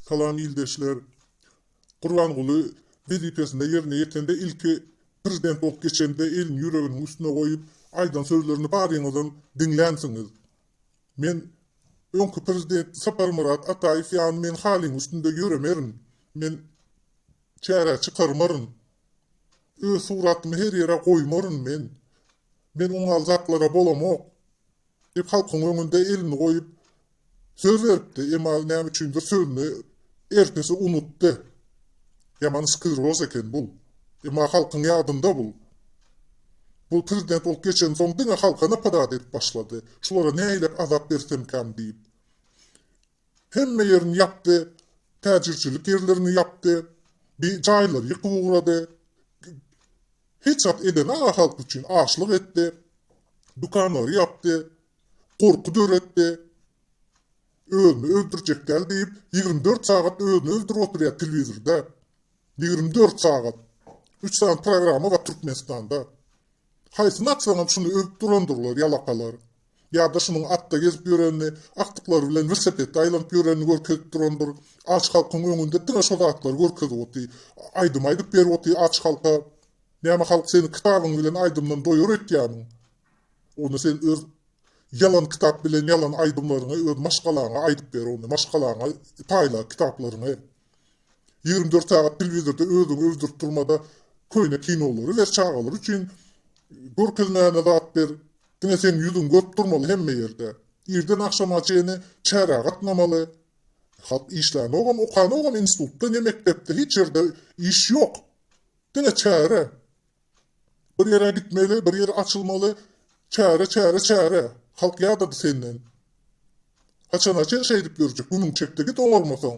Salam ildeşler. Gurbanguly wezipesinde ýerine ýetende ilki prezident bolup geçende elini ýüreginiň üstüne goýup aýdan sözlerini baryňyzam diňlänsiňiz. Men öňki prezident Saparmyrat Ataýew ýaly men halyň üstünde ýöremerin, men çärä çykarmaryn, öz suratymy her ýere goýmaryn men, men oňal zatlara bolamok. Diýip, halkyň öňünde elini goýup, söz beripdi, emma näme üçindir sözüni ertesi unutdy. Ýaman skleroz eken bul. Emma halkyň ýadynda bul. Bul prezident bolup geçensoň diňe halka napadat edip başlady. Şulara nähilek azap bersemkäm diýip. Hemme ýerini ýapdy. Täjirçilik ýerlerini ýapdy. Bi jaýlary ýykyp ugrady. Hiç zat edemän halk üçin açlyk etdi. Dükanlary ýapdy. Gorky döretdi. Özüni öldürjek däl diýip, ýigrimi dört sagat özüni öldürip oturýar telewizorda. Ýigrimi dört sagat. Üç sany programma bar Türkmenistanda. Haýsyny atsaňam şuny öwüp durandyrlar ýalakalar. Ýa-da şunuň atda gezip ýörenini, agtyklary bilen welsepetde aýlanyp ýörenini görkezip durandyr. Aç halkyň öňünde diňe şo zatlary görkezip oty. Aýdym aýdyp berip oty aç halka. Näme halk seni kitabyň bilen aýdymdan doýar öýtýämiň? Onda sen öz ýalan kitap bilen ýalan aýdymlaryňy öz maşgalaňa aýdyp ber ony. Maşgalaňa paýla kitaplaryňy. Ýigrimi dört sagat telewizorda özüňi öldürip durmada köýne kinolary ber çagalar üçin görkezmäne zat ber diňe seň ýüzüň görüp durmaly hemme ýerde irden agşama çeni çärä gatnamaly halk işlänogam okanogam institutda ne mekdepde hiç ýerde iş ýok diňe çäre Bir ýere gitmeli, bir ýere açylmaly, çäre, çäre, çäre. Halk ýadady senden. Haçana çen şeýdip ýörjek, günüň çekdi git oňarmasaň.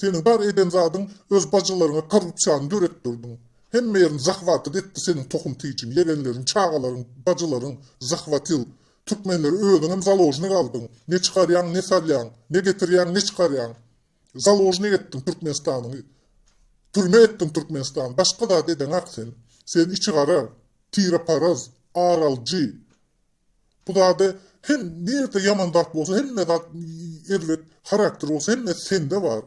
Seniň bar eden zadyň öz bajylaryňa korrupsiýany döretdirdiň. Hemme ýerini zahwatyt etdi seniň tohum tijiň, ýegenleriň, çagalaryň, bajylaryň zahwatyl. Türkmenleri özüňem založnik aldyň. Ne çykarýaň, ne salýaň. Ne getirýäň, ne çykarýaň. Založnik etdiň Türkmenistany Türme etdiň Türkmenistany başga zat edeňak sen sen içigara tireparaz ar alyjy bu zada hem nirde ýaman zat bolsa hemme zat erbet harakter bolsa hemmesi sende bar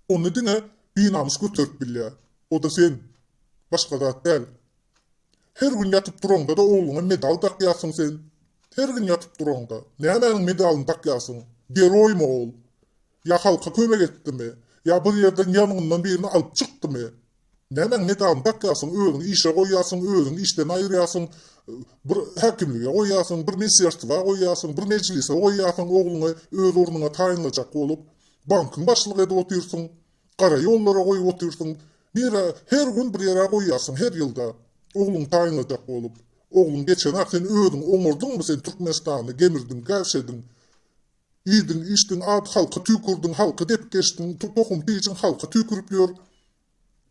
ony diňe binamys göterip bilýä oda sen başga zat däl Her gün ýatyp duraňda-da ogluňa medal dakýarsyň sen. Her gün ýatyp duraňda. Nämäniň medalyny dakýarsyň? Geroýmy ol? Ýa halka kömek etdimi? Ýa bir ýerden ýangyndan birini alyp çykdymy? Nämäň medalyny dakýarsyň? Özüňi işe goýýarsyň, özüňi işden aýyrýarsyň, bir häkimlige goýýarsyň, bir mesýerstwa goýýarsyň, bir mejlise goýýarsyň ogluňy öz ornuňa taýynlajak bolup. Bankyň başlygy edip otyrsyň. Gara ýollara goýup otyrsyň. Nirä? Her gün bir ýere goýýarsyň, her ýylda. Ogluňy taýynlajak bolup. Ogluň geçen-ä sen özüň oňardyňmy sen Türkmenistany, gemirdiň, gäwşediň. Iýdiň, içdiň, ad halka tüýkürdiň, halky depip geçdiň, tohum-tijiň halka tüýkürip ýör.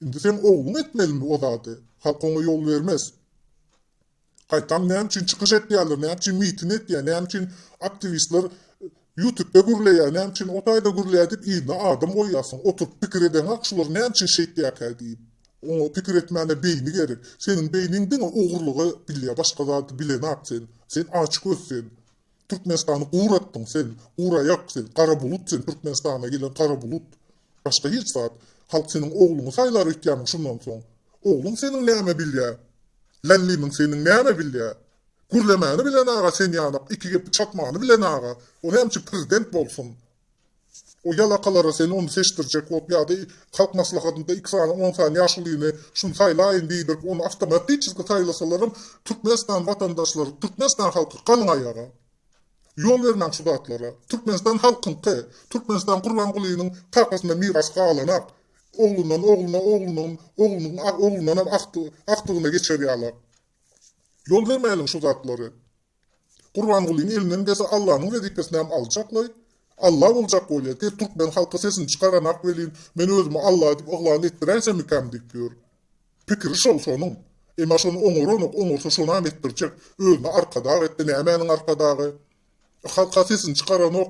Indi seň ogluň etmelimi o zady. Halk oňa ýol bermez. Gaýtam näme üçin çykyş etýärler, näme üçin mitin etýär, näme üçin aktiwistler ýutubda gürleýär, näme üçin o taýda gürleýär diýip yzyna adam goýýarsyň. Oturyp pikir edeňak şular näme üçin şeýtýärkä diýip. Oňa pikir etmäne beýni gerek. Seniň beýniň diňe ogurlygy bilýär, başga zady bilenok sen. Sen açgöz sen. Türkmenistany uratdyň sen, uraýak sen, gara bulut sen, Türkmenistana gelen gara bulut. Başga hiç zat. Halk seniň ogluňy saýlar öýtýämiň şundan soň? Ogluň seniň näme bilýä? Lallimiň seniň näme bilýä? Gürlemäni bilen aga sen ýanak, iki gepi çapmany bilen aga, o näme üçin prezident bolsun? O ýalakalara sen ony seçdirjek bolup ýa-da halk maslahatynda iki sany on sany ýaşulyny şuny saýlaýyn diýdirip ony awtomatiçeski saýlasalaram Türkmenistan watandaşlary Türkmenistan halky galyň aýaga. Ýol bermäň şu zatlara. Türkmenistan halkyňky. Türkmenistan Gurbangulynyň kakasyndan miras galanak. Oglundan ogluna oglundan oglunyň oglundanam agtygyna geçer ýala. Ýol bermäliň şu zatlary. Gurbangulyny elinden gelse Allanyň wezipesinem aljaklaý. Alla boljak bolýa diýip türkmen halky sesini çykaranak welin men özümi Alla diýip yglan etdiräýsemikäm diýip ýör. Pikiri şol şonuň. Emma şony oňaranok oňarsa şonam etdirjek. Özüni arkadag etdi nämäniň arkadagy. Halka sesini çykaranok.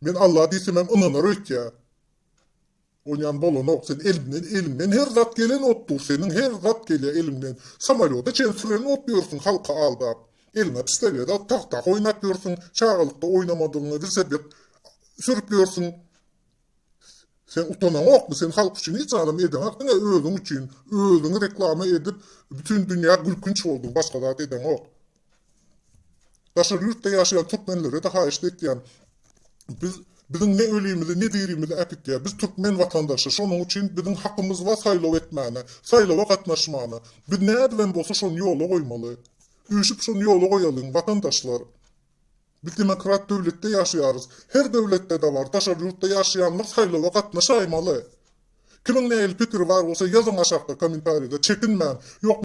Men Alla diýsemem ynanar öýtýä. Oýnan bolanok sen elinden eliňden her zat gelen otdur seniň her zat gelýä eliňden samalýota çen süren ot ýörsüň halky aldap eliňe pistoleda tagta oýnap ýörsüň çagalykda oýnamadygyňy wilseped sürüp ýörsüň sen utanaňokmy sen halk üçin hiç zadam edeňok diňe özüň üçin özüňi reklama edip bütin dünýä gülkünç bolduň başga zat edeňok Daşary ýurtda ýaşaýan türkmenlere de haýyşt etýän biz biziň ne ölimizi ne dirimizi äkitýä biz türkmen watandaşy şonuň üçin biziň hakymyz bar saýlaw etmäne saýlawa gatnaşmana biz nädibem bolsa şony ýola goýmaly üýşüp şony ýola goýalyň watandaşlar biz demokrat döwletde ýaşaýarys her döwletdede bar daşary ýurtda ýaşaýanlar saýlawa gatnaşaýmaly kimiň nähili pikiri bar bolsa ýazyň aşakda komentarýada çekinmäň ýok